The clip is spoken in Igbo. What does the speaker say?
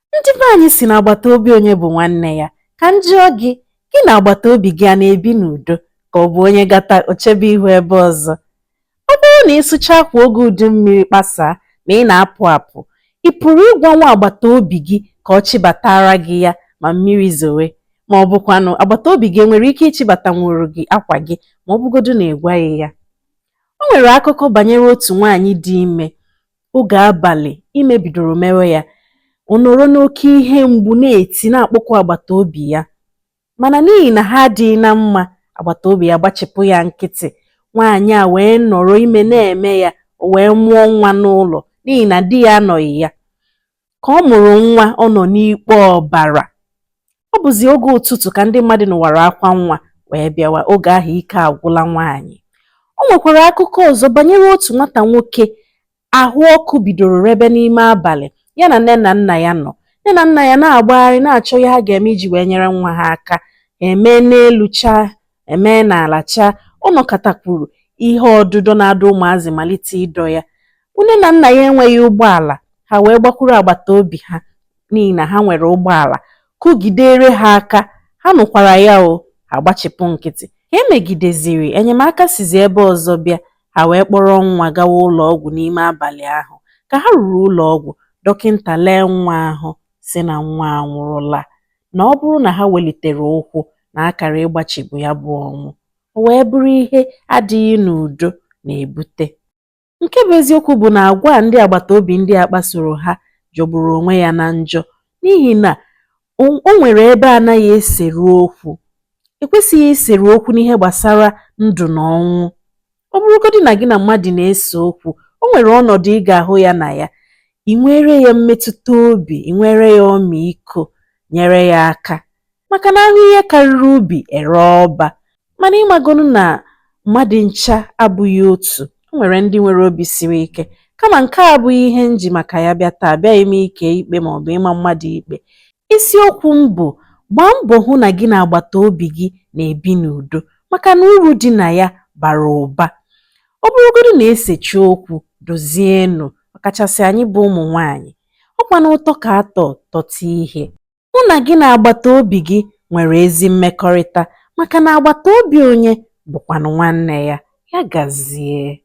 ndị be anyị sị na agbata obi onye bụ nwanne ya ka m jụọ gị gị na agbata obi gị a na-ebi n'udo ka ọ bụ onye gata o chebe ihu ebe ọzọ ọ bụrụ na ị sụchaa akwa oge udu mmiri kpasaa ma ị na-apụ apụ ị pụrụ ịgwa nwa agbata obi gị ka ọ chịbatara gị ya ma mmiri zowe ma ọ bụkwanụ agbata obi gị enwere ike ịchịbatanwuru gị akwa gị ma ọ bụgodu na ị gwaghị ya o nwere akụkọ banyere otu nwaanyị dị ime oge abalị ime bidoro mewe ya ọ nọrọ n'oke ihe mgbu na-eti na-akpọku agbata obi ya mana n'ihi na ha adịghị na mma agbata obi ya gbachipụ ya nkịtị nwaanyị a wee nọrọ ime na-eme ya o wee mụọ nwa n'ụlọ n'ihi na di ya anọghị ya ka ọ mụrụ nwa ọ nọ n'ikpe ọbara ọ bụzi oge ụtụtụ ka ndị mmadụ nụwara akwa nwa wee bịawa oge ahụ ike agwụla nwaanyị o nwekwara akụkọ ọzọ banyere otu nwata nwoke ahụ ọkụ bidoro rebe n'ime abalị ya na nne na nna ya nọ nne na nna ya na-agbagharị na-achọ ihe ha ga-eme iji wee nyere nwa ha aka emee n'elu chaa Emee n'ala chaa, ọ nọkatakwuru ihe ọdụdọ na-adọ ụmụazị malite ịdọ ya. Nne na nna ya enweghị ụgbọala, ha wee gbakwuru agbata obi ha n'ihi na ha nwere ụgbọala, kụgidere ha aka, ha nụkwara ya o, ha gbachipụ nkịtị. Ka e megideziri, enyemaka sizi ebe ọzọ bịa, ha wee kpọrọ nwa gawa ụlọ ọgwụ n'ime abalị ahụ. Ka ha ruru ụlọ ọgwụ, dọkịnta lee nwa ahụ, sị na nwa anwụrụla na ọ bụrụ na ha welitere ụkwụ na a kara ịgbachibu ya bụ ọnwụ o wee bụrụ ihe adịghị n'udo na-ebute nke bụ eziokwu bụ na agwa a ndị agbata obi ndị a kpasoro ha jọgburu onwe ya na njọ n'ihi na o nwere ebe anaghị eseru okwu ekwesịghị iseru okwu n'ihe gbasara ndụ na ọnwụ ọ bụrụgodị na gị na mmadụ na-ese okwu o nwere ọnọdụ ị ga-ahụ ya na ya ị nwere ya mmetụta obi ị nwere ya ọmịiko nyere ya aka maka na a hụ ihe karịrị ubi e ree ọba mana ị magonu na mmadụ ncha abụghị otu o nwere ndị nwere obi siri ike kama nke a abụghị ihe m ji maka ya bịa taa abịaghị m ike ikpe ma ọ bụ ịma mmadụ ikpe isiokwu m bụ gbaa mbọ hụ na gị na agbata obi gị na-ebi n'udo maka na uru dị na ya bara ụba ọ bụrụgodu na e sechi okwu dozienụ ọkachasị anyị bụ ụmụ nwaanyị ọkwa na ụtọ ka atọ tọta ihe hụ na gị na agbata obi gị nwere ezi mmekọrịta maka na agbata obi onye bụkwanụ nwanne ya ya gazie